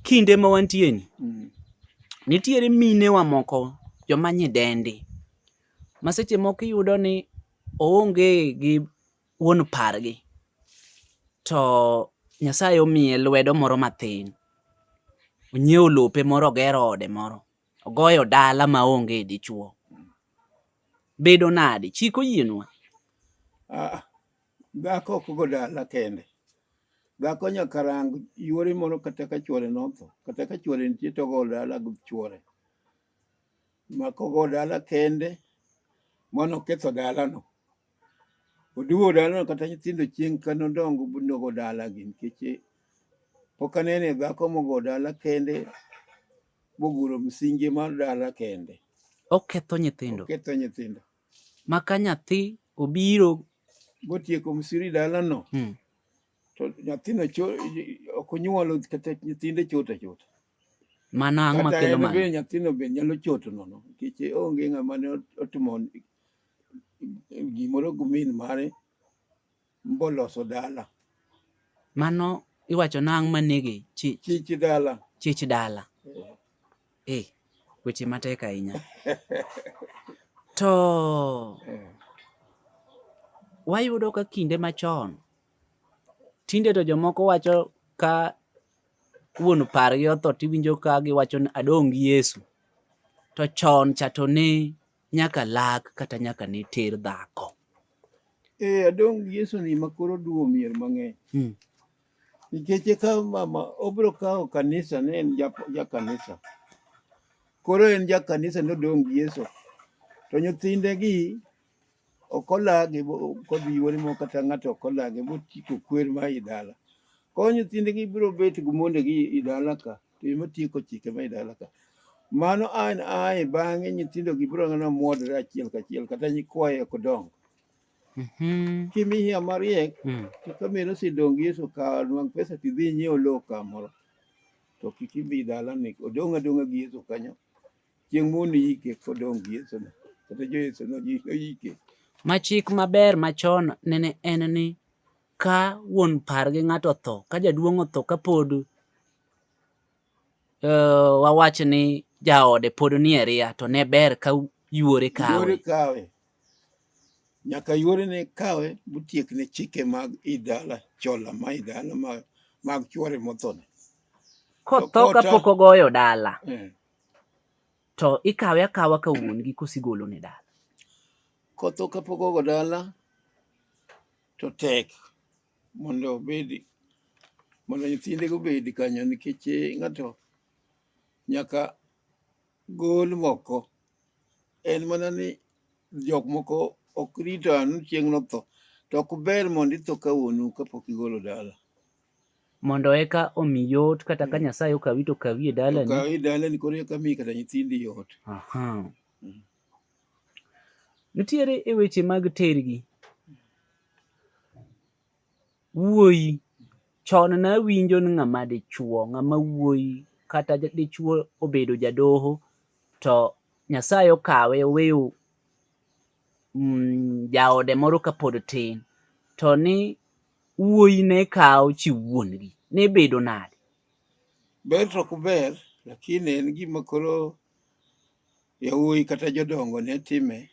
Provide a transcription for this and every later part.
kinde ma wantie ni mm. nitiere mine wa moko joma nyidendi ma seche moko iyudo ni oonge gi wuon pargi to Nyasaye omiye lwedo moro mathin onyiewo lope moro ogero ode moro ogoyo dala ma onge dichuo bedo nadi chik oyienwa ah, Dhako ok go dala kende. Dhako nyaka rang yuore moro kata ka chuore notho. Kata ka chuore nitie to ogo dala gi chuore. Ma kogo dala kende, mano oketho dalano. Oduwo dalano kata nyithindo chieng' ka nodongo nogo dalagi nikech eh, pok anene dhako mogo dala kende moguro msingi mar dala kende. Oketho nyithindo. Oketho nyithindo. ma ka nyathi obiro motieko msiri dalano hmm. to nyathino ok onyuolo kata nyithinde chota chota mano ang' makelo mano bende nyathino be nyalo choto nono nikech onge ng'ama ne otimo gimoro gi min mare mboloso dala mano iwacho nang' manege chich chich dala chich dala eh, eh weche matek ahinya to eh. wayudo ka kinde machon tinde to jomoko wacho ka wuon pargi otho tiwinjo ka giwacho ni adong' gi Yesu to chon cha to ne nyaka lak kata nyaka ne ter dhako. Eh, adong Yesu ni makoro duo mier mang'eny. Hmm. Nikech e kawo mama, obiro kawo kanisa ne en ja kanisa. Koro en ja kanisa ne odong gi Yesu. To nyithinde gi ok olagi kodhi yuore mo kata ng'ato ok olagi botieko kwer ma i dala. Koro nyithinde gi biro bet gi monde gi i dala ka. Tim matieko chike ma idala ka. Mano an ae bang'e nyithindo gi biro ng'ana mwodre achiel kachiel kata nyikwaye ok dongo. Mhm. Kimiya mariek Mm. to ka mero sidong Yesu ka nwang' pesa tidhi nyiew lowo kamoro. To kik ibi dala ni odong' adong'a gi Yesu kanyo. Chieng' moni yike kodong' gi Yesu no. Kata jo Yesu no ji- oyike. Ma chik maber machon nene en ni ka wuon par gi ng'ato otho ka jaduong' otho ka pod uh, wawach ni jaode pod nie ria to ne ber ka yuore kawe kawe nyaka yuore ne kawe butiek ne chike mag idala chola ma idala mag, mag chuore mothone kotho ka pok ogoyo dala eh. to ikawe akawa ka wuon gi kosigolo ne dala kotho ka pok ogo dala to tek mondo obed mondo nyithindego obed kanyo nikech eh, ng'ato nyaka gol moko en mana ni jok moko ok rito anu chieng' notho to ok ber mondo itho ka wuonu kapok igolo dala mondo eka omi yot kata ka mm. Nyasaye okawi to okawi e dalani okawi e dalani koro eka mi kata nyithindi yot Aha. Nitiere e weche mag tergi. Wuoyi, chon ne awinjo ni ng'ama dichuo, ng'ama wuoyi kata dichuo obedo jadoho to Nyasaye okawe oweyo mm, jaode moro kapod tin to ni wuoyi ne kawo chi wuongi ne bedo nade? Ber to ok ber lakini en gima koro Yawuoyi kata jodongo ne time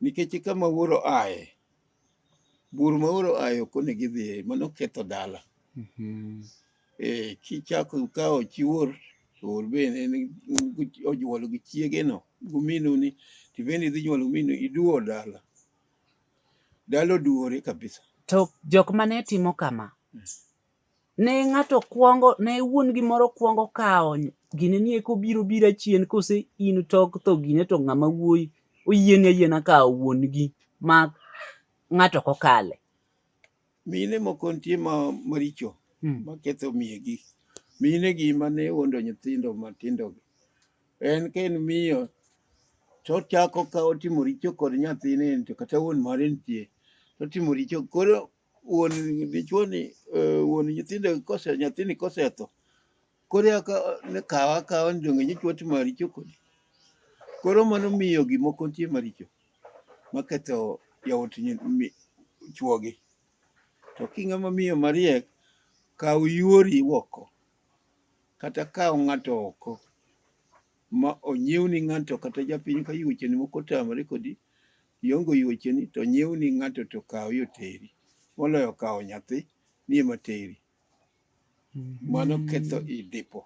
nikech kama wuoro aye bur ma wuoro aye ok onego idhiye mano ketho dala mhm. eh, kichako kawo chi wuor to wuor bende onyuolo gi chiegeno guminu ni to bende idhi nyuolo guminu iduwo dala dala oduwore kabisa to jok mane timo kama hmm. ne ng'ato kwongo ne wuon gimoro kwongo kawo gine ni eko biro bira chien kose in tok tho gine to ng'ama wuoyi oyieni ayiena kawo wuon gi ma ng'ato kokale mine moko nitie ma maricho hmm. maketho miye gi mine gi mane wuondo nyithindo matindo gi en ka en miyo to chako ka otimo richo kod nyathine to kata wuon mare nitie to otimo richo koro wuon dichuoni eh, wuon nyithindo kose nyathini kosetho koro eka ne kawa akawa ni donge nyichwa timo maricho kodi koro mano miyo gimoko nitie maricho maketho yawuot chuogi to kinga ma miyo mariek kaw yuori oko kata kaw ng'ato oko ma onyiewni ng'ato kata japiny ka yuocheni moko otamore kodi Iongo yuocheni to nyiewni ng'ato to kawo yo teri. Moloyo kawo nyathi ni ema teri. Mano ketho i dipo.